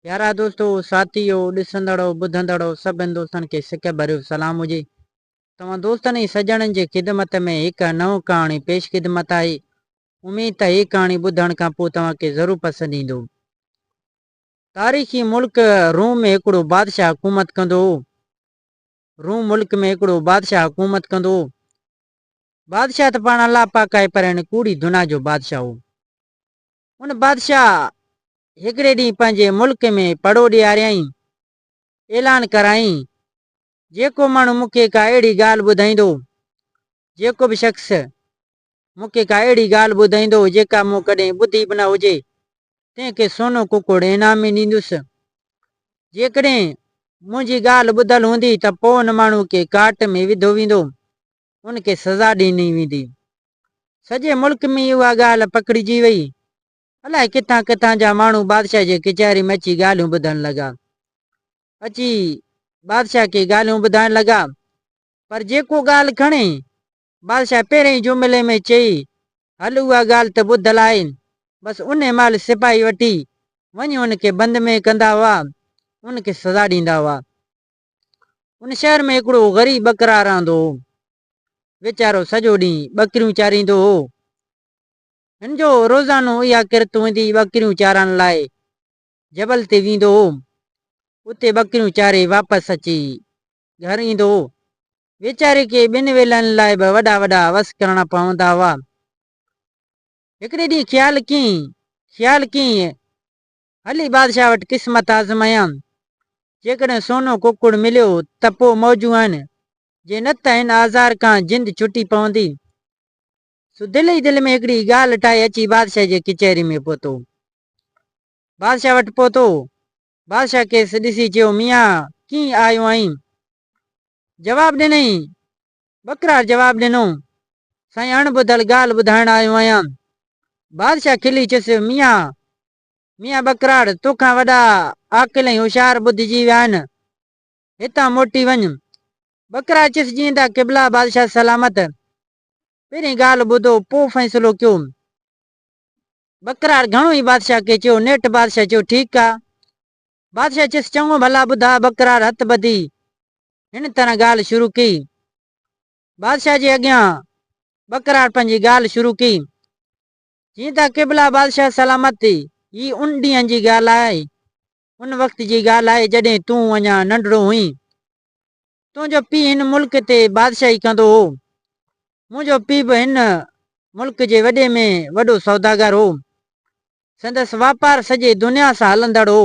پيارا دوستو، ساٿيو، ڏسندڙو، ٻڌندڙو سڀ هندوستان کي سڪ ڀريو سلام هجي. توهان دوستن ۽ سڄڻن جي خدمت ۾ هڪ نئون ڪهاڻي پيش خدمت آهي. اميد ته هي ڪهاڻي ٻڌڻ کان پوء توهان کي ضرور پسند ايندو. تاريخي ملڪ روم ۾ هڪڙو بادشاهه حڪومت ڪندو هو. روم ملڪ ۾ هڪڙو بادشاهه حڪومت ڪندو هو. بادشاهه ته پاڻ الله پاڪ آهي پر هن ڪوڙي دنيا جو بادشاهه هو. ان بادشاهه هڪڙي ڏينهن پنهنجي ملڪ ۾ پڙهو ڏياريائين، اعلان ڪرايائين، جيڪو ماڻهو مون کي ڪا اهڙي ڳالهه ٻڌائيندو، جيڪو به شخص مون کي ڪا اهڙي ڳالهه ٻڌائيندو، جيڪا مون ڪڏهن ٻڌي به نه هجي، تنهن کي سونو ڪڪڙ انعام ۾ ڏيندس. جيڪڏهن منهنجي ڳالهه ٻڌل هوندي ته پوء ان ماڻهو کي ڪاٽ ۾ وڌو ويندو، ان کي سزا ڏني ويندي. سڄي ملڪ ۾ اها ڳالهه پکڙجي وئي. الائي ڪٿان ڪٿان جا ماڻهو بادشاهه جي ڪچهري ۾ اچي ڳالهيون ٻڌڻ لڳا. اچي بادشاهه کي ڳالهيون ٻڌائڻ لڳا. پر جيڪو ڳالهه کڻي، بادشاهه پهرئين جملي ۾ چئي، هل اها ڳالهه ته ٻڌل آهي. بس انهي مهل سپاهي وٺي وڃي ان کي بند ۾ ڪندا هئا، ان کي سزا ڏيندا هئا. ان شهر ۾ هڪڙو غريب ٻڪرار رهندو هو. ويچارو سڄو ڏينهن ٻڪريون چاريندو هو. هن جو روزانو اها ڪرت هوندي ٻڪريون چارڻ لاء جبل تي ويندو هو. اتي ٻڪريون چاري واپس اچي گهر ايندو هو. ويچاري کي ٻن ويلن لاء به وڏا وڏا وس ڪرڻا پوندا هئا. هڪڙي ڏينهن خيال ڪيئي خيال ڪيئي هلي بادشاهه وٽ قسمت آزمايان. جيڪڏهن سونو ڪڪڙ مليو ته پوء موجون آهن، جي نه ته هن آزار کان جند ڇٽي پوندي. سو دل ئي دل ۾ هڪڙي ڳالهه ٺاهي اچي بادشاهه جي ڪچهري ۾ پهتو. بادشاهه وٽ پهتو. بادشاهه کيس ڏسي چيو، ميان ڪيئن آيو آهين؟ جواب ڏنئين. ٻڪرار جواب ڏنو، سائين اڻ ٻڌل ڳالهه ٻڌائڻ آيو آهيان. بادشاهه کلي چيس، ميان ميان ٻڪراڙ، تو کان وڏا عاقل ۽ هوشيار ٻڌجي ويا آهن. هتان موٽي وڃ. ٻڪراڙ چيس، جيئندا قبلا بادشاهه سلامت. پهرين ڳالهه ٻڌو، پوء فيصلو ڪيو. ٻڪراڙ گهڻو ئي بادشاهه کي چيو. نيٺ بادشاهه چيو، ٺيڪ آ. بادشاهه چيس، چڱو ڀلا ٻڌاء. ٻڪراڙ هٿ ٻڌي هن طرح ڳالهه شروع ڪئي. بادشاهه جي اڳيان ٻڪراڙ پنهنجي ڳالهه شروع ڪئي. جيئن ته قبلا بادشاهه سلامت ٿي، هي ان ڏينهن جي ڳالهه آهي، ان وقت جي ڳالهه آهي جڏهن تون اڃا ننڍڙو هئين. تنهنجو پيء هن ملڪ تي بادشاهي ڪندو هو. منهنجو پيء به هن ملڪ جي وڏي ۾ وڏو سوداگر هو. سندس واپار سڄي دنيا سان هلندڙ هو.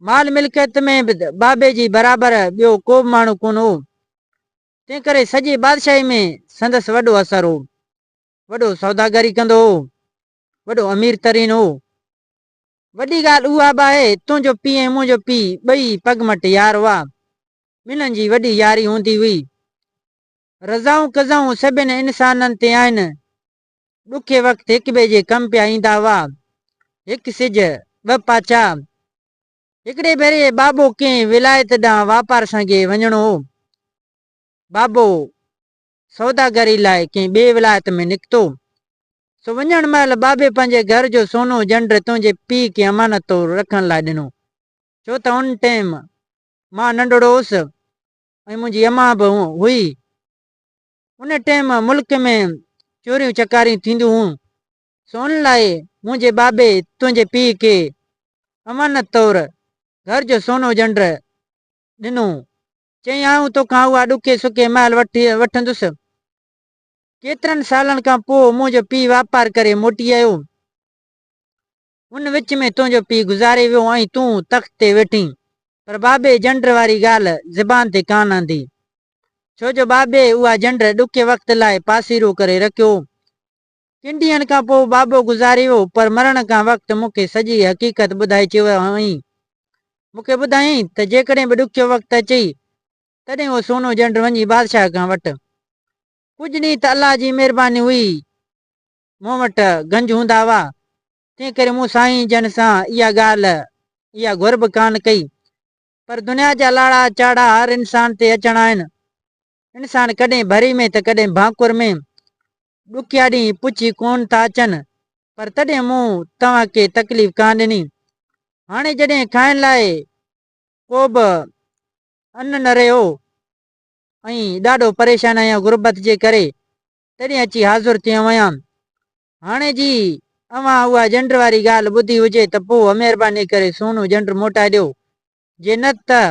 مال ملڪيت ۾ به بابي جي برابر ٻيو ڪو به ماڻهو ڪونه هو. تنهنڪري سڄي بادشاهي ۾ سندس وڏو اثر هو. وڏو سوداگري ڪندو هو، وڏو امير ترين هو. وڏي ڳالهه اها به آهي، تنهنجو پيء ۽ منهنجو پيء ٻئي پڳ مٽ يار هئا. ٻنهن جي وڏي ياري هوندي هئي. رضائون قضائون سڀني انسانن تي آهن. ڏکي وقت هڪٻئي جي ڪم پيا ايندا هئا. هڪ سج، ٻه پاڇا. هڪڙي ڀيري بابو ڪنهن ولايت ڏانهن واپار سانگي وڃڻو هو. بابو سوداگري لاء ڪنهن ٻئي ولايت ۾ نڪتو، سو وڃڻ مهل بابي پنهنجي گهر جو سونو جنڊ تنهنجي پيء کي امانت طور رکڻ لاء ڏنو، ڇو ته ان ٽيم مان ننڍڙو هوس ۽ منهنجي امان به هئي. ان ٽيم ملڪ ۾ چوريون چڪاريون ٿينديون هيون، سو ان لاء منهنجي بابي تنهنجي پيء کي امانت طور گهر جو سونو جنڊ ڏنو چيائين، آئون توکان اها ڏکي سکي محل وٺي وٺندس. ڪيترن سالن کان پوء منهنجو پيء واپار ڪري موٽي آيو. ان وچ ۾ تنهنجو پيء گذاري ويو ۽ تون تخت تي ويٺين. پر بابي جنڊ واري ڳالهه زبان تي ڪانه آندي. ڇو جو بابي اها جنڊ ڏکي وقت لاء پاسيرو ڪري رکيو. ڪن ڏينهن کان پوء بابو گذاري ويو، پر مرڻ کان وقت مون کي سڄي حقيقت ٻڌائي چيو هئائين. مون کي ٻڌايائين ته جيڪڏهن به ڏکيو وقت اچئي، تڏهن اهو سونو جنڊ وڃي بادشاهه کان وٺ. ڪجهه ڏينهن ته الله جي مهرباني هئي، مون وٽ گنج هوندا هئا، تنهنڪري مون سائين جن سان اها ڳالهه، اها گهر به ڪانه ڪئي. پر دنيا جا لاڙا چاڙها هر انسان تي اچڻا آهن، انسان ڪڏهن ڀري ۾ ته ڪڏهن ڀانڪور ۾، ڏکيا ڏينهن پڇي ڪونه ٿا اچن، پر تڏهن مون توهان کي تڪليف ڪانه ڏني. هاڻي جڏهن کائڻ لاء ڪوبه ان نه رهيو ۽ ڏاڍو پريشان آهيان غربت جي ڪري، تڏهن اچي حاضر ٿيو آهيان. هاڻي جي اوهان اها جنڊ واري ڳالهه ٻڌي هجي ته پوء مهرباني ڪري سونو جنڊ موٽائي ڏيو، جي نه ته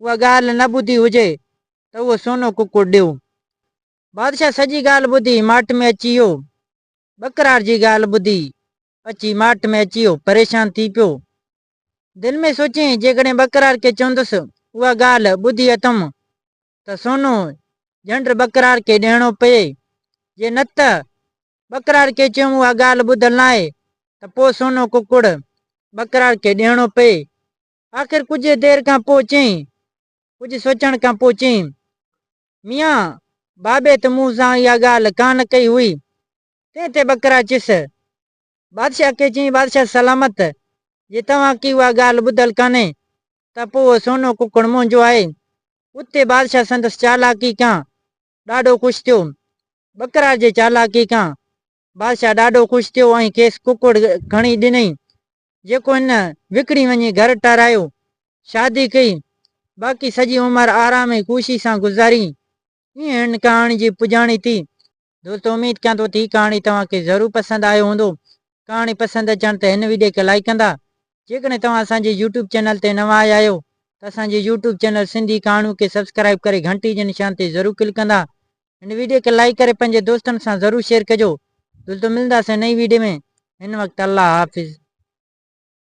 اها ڳالهه نه ٻڌي هجي ته اهو سونو ڪڪڙ ڏيو. بادشاهه سڄي ڳالهه ٻڌي ماٺ ۾ اچي ويو. ٻڪرار جي ڳالهه ٻڌي اچي ماٺ ۾ اچي ويو پريشان ٿي پيو. دل ۾ سوچيائين جيڪڏهن ٻڪرار کي چوندس اها ڳالهه ٻڌي اٿم ته سونو جنڊ ٻڪرار کي ڏيڻو پئي جي نه ته ٻڪرار کي چيم اها ڳالهه ٻڌل ناهي ته پوء سونو ڪڪڙ ٻڪرار کي ڏيڻو پئي آخر ڪجهه دير کان پوء چيائين. ڪجهه سوچڻ کان پوء چيائين. ميان، بابي ته مون سان اها ڳالهه ڪا نه ڪئي هئي. تنهن تي ٻڪرا چيس. بادشاهه کي چيائين، بادشاهه سلامت، جي توهان کي اها ڳالهه ٻڌل ڪانهي ته پوء اهو سونو ڪڪڙ منهنجو آهي. اتي بادشاهه سندس چالاڪي کان ڏاڍو خوش ٿيو. ٻڪرا جي چالاڪي کان بادشاهه ڏاڍو خوش ٿيو ۽ کيس ڪڪڙ کڻي ڏنئي، جيڪو هن وڪڻي وڃي گهر ٺهرايو، شادي ڪئي، باقي سڄي عمر آرام ۽ خوشي سان گذاري. ائين هن ڪهاڻي جي پڄاڻي ٿي. دوستو اميد ڪيان ٿو ته هي ڪهاڻي توهان کي ضرور پسند آيو هوندو. ڪهاڻي پسند اچڻ تي هن وڊيو کي لائيڪ ڪندا. جيڪڏهن توهان اسان جي يوٽيوب چينل تي نوان آيا آهيو ته اسان جي يوٽيوب چينل سنڌي ڪهاڻيون کي سبسڪرائيب ڪري گهنٽي جي نشان تي ضرور ڪلڪ ڪندا. هن ويڊيو کي لائيڪ ڪري پنهنجي دوستن سان ضرور شيئر ڪجو جلد ملنداسين نئين ويڊيو ۾ هن وقت الله حافظ.